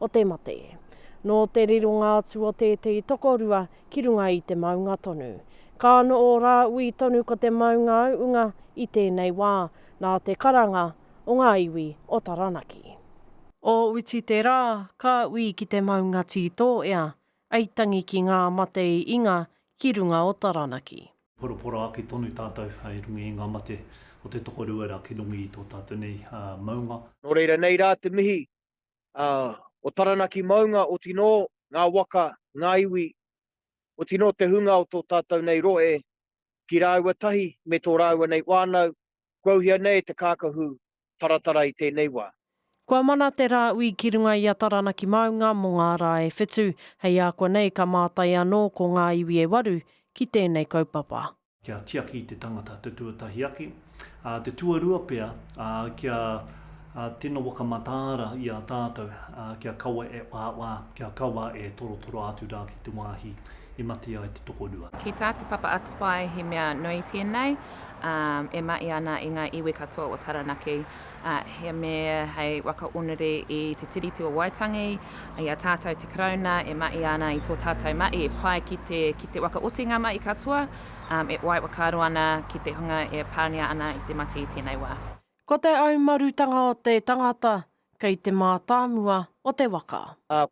o te mate. Nō te rironga atu o tētehi tokorua ki runga i te maunga tonu. Ka ano ō Rāui tonu ko te maunga auunga i tēnei wā, nā te karanga o ngā iwi o Taranaki. O uti te rā, ka ui ki te maunga tītō ea, ei tangi ki ngā mate i inga ki runga o Taranaki. Poropora ake tonu tātou i runga i ngā mate o te tokorua rā ki runga i tō tātou nei maunga. Nō reira nei rā te mihi ā, o Taranaki maunga, otinō ngā waka, ngā iwi, otinō te hunga o tō tātou nei rohe, ki rāua tahi me tō rāua nei whānau, kua uhia nei te kākahu taratara i tēnei wā. Kua mana te rāui ki runga i a Taranaki maunga mō ngā rā e whitu, hei ākuanei ka mātai anō ko ngā iwi e waru ki tēnei kaupapa. Kia tiaki te tangata te tuatahi ake, ā, te tuarua pea, ā, kia, ā, tino whakamataara i a tātou, ā, kia kaua e whāwhā, kia kaua e torotoro atu rā ki te wāhi i mate ai te tokorua. Ki tā Te Papa Atawhai he mea nui tēnei, ā, e mahi ana i ngā iwi katoa o Taranaki, He mea hei waka onere i te Tiriti o Waitangi, i a tātou te Karauna e mahi ana i tō tātou mahi e pai ki te, ki te wakaoti ngā mahi katoa, e wai whakaaro ana ki te hunga e pāngia ana i te mate i tēnei wā. Ko te aumarutanga o te tangata kei te mātāmua o te waka.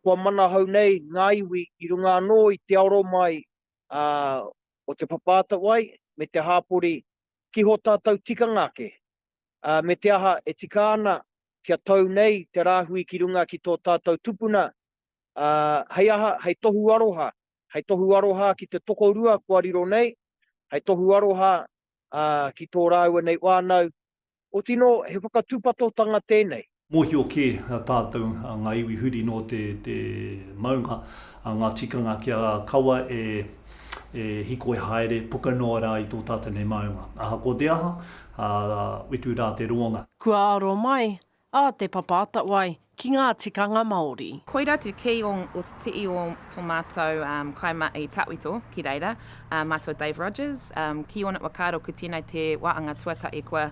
Kua manahau nei ngā iwi i runga anō i te aro mai o te papa atawai me te hāpori ki hō tātou tikanga ake. ā, me te aha e tika ana kia tau nei te rāhui ki runga ki tō tātou tupuna, ā, hei aha, hei tohu aroha, hei tohu aroha ki te tokorua kua riro nei, hei tohu aroha, ā, ki tō rāua nei whānau, otinō he whakatūpatotanga tēnei. Mōhio kē tātou ngā iwi huri nō te maunga, ngā tikanga kia kaua e hikoi haere puka noa rā i tō tātou nei maunga. Ahakoa te aha, utu rā te roanga. Kua aro mai a Te Papa Atawai ki ngā tikanga Māori. Koira te key o te i o to matou kai ma i tawhito ki reira, matou Dave Rogers, ki ona whakaaro ko tenei te waanga tuatahi kua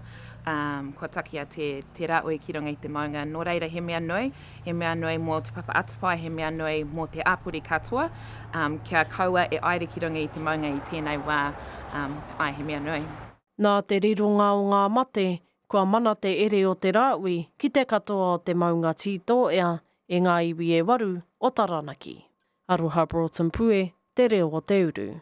Um, kua takea te, te raoi ki runga i te maunga, nō reira he mea nui, he mea nui mō Te Papa Atawhai, he mea nui mō te āpori katoa, um, kia kaua e aere ki runga i te maunga i tēnei wā, um, ai he mea nui. Nā te rironga o ngā mate, kua mana te ere o te rāoi ki te katoa o te maunga Tītōea e ngā iwi e waru o Taranaki. Aroha Broughton Pue, Te Reo o Te Uru.